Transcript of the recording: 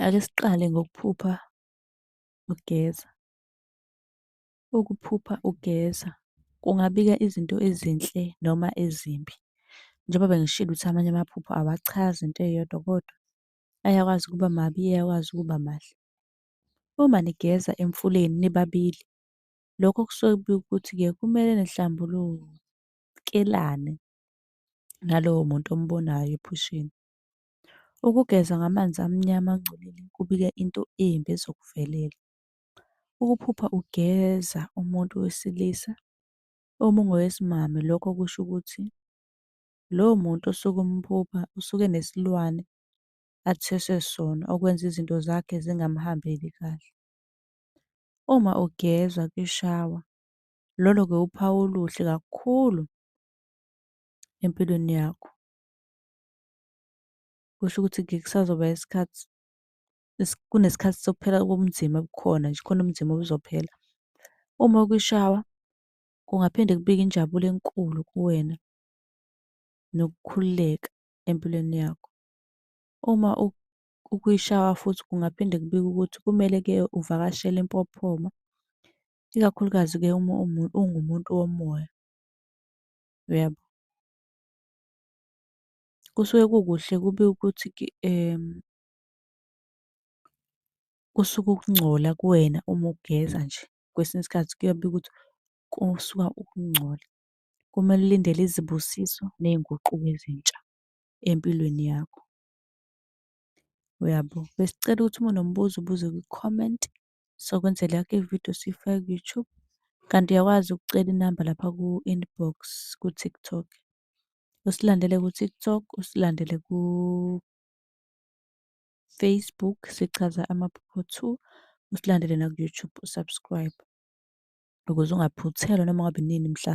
Ake siqale ngokuphupha ugeza. Ukuphupha ugeza kungabika izinto ezinhle noma ezimbi. Njengoba bengishilo ukuthi amanye amaphupho awachazi into eyodwa kodwa ayakwazi ukuba mabi, ayakwazi ukuba mahle. Uma nigeza emfuleni nibabili, lokho kusuke kubika ukuthi-ke kumele nihlambulukelane nalowo muntu ombonayo ephusheni. Ukugeza ngamanzi amnyama angcolile kubika into embi ezokuvelela. Ukuphupha ugeza umuntu wesilisa uma ungowesimame lokho kusho ukuthi lowo muntu osuke umphupha usuke enesilwane athweswe sona okwenza izinto zakhe zingamhambeli kahle. Uma ugezwa kwishawa, lolo-ke wuphawu oluhle kakhulu empilweni yakho. Kusho ukuthi-ke kusazoba isikhathi kunesikhathi sokuphela kobunzima obukhona nje, khona ubunzima obuzophela. Uma kwishawa kungaphinde kubike injabulo enkulu kuwena nokukhululeka empilweni yakho. Uma ukwishawa futhi kungaphinde kubike ukuthi kumele-ke uvakashele impophoma, ikakhulukazi-ke uma ungumuntu womoya. Uyabo? kusuke kukuhle kubi ukuthi kusuke ukungcola kuwena uma ugeza nje. Kwesinye isikhathi kuyabi ukuthi kusuka ukungcola. Kumele ulindele izibusiso ney'nguquko ezintsha empilweni yakho. Uyabo? Besicela ukuthi uma unombuzo ubuze kwi-comment. Sokwenzela yakhe ividiyo siyifake ku-YouTube. Kanti uyakwazi ukucela inamba lapha ku-inbox ku-TikTok. Usilandele ku-TikTok, usilandele ku-Facebook, sichaza amaphupho two. Usilandele naku-YouTube, u-subscribe ukuze ungaphuthelwa noma ngabe inini mhla .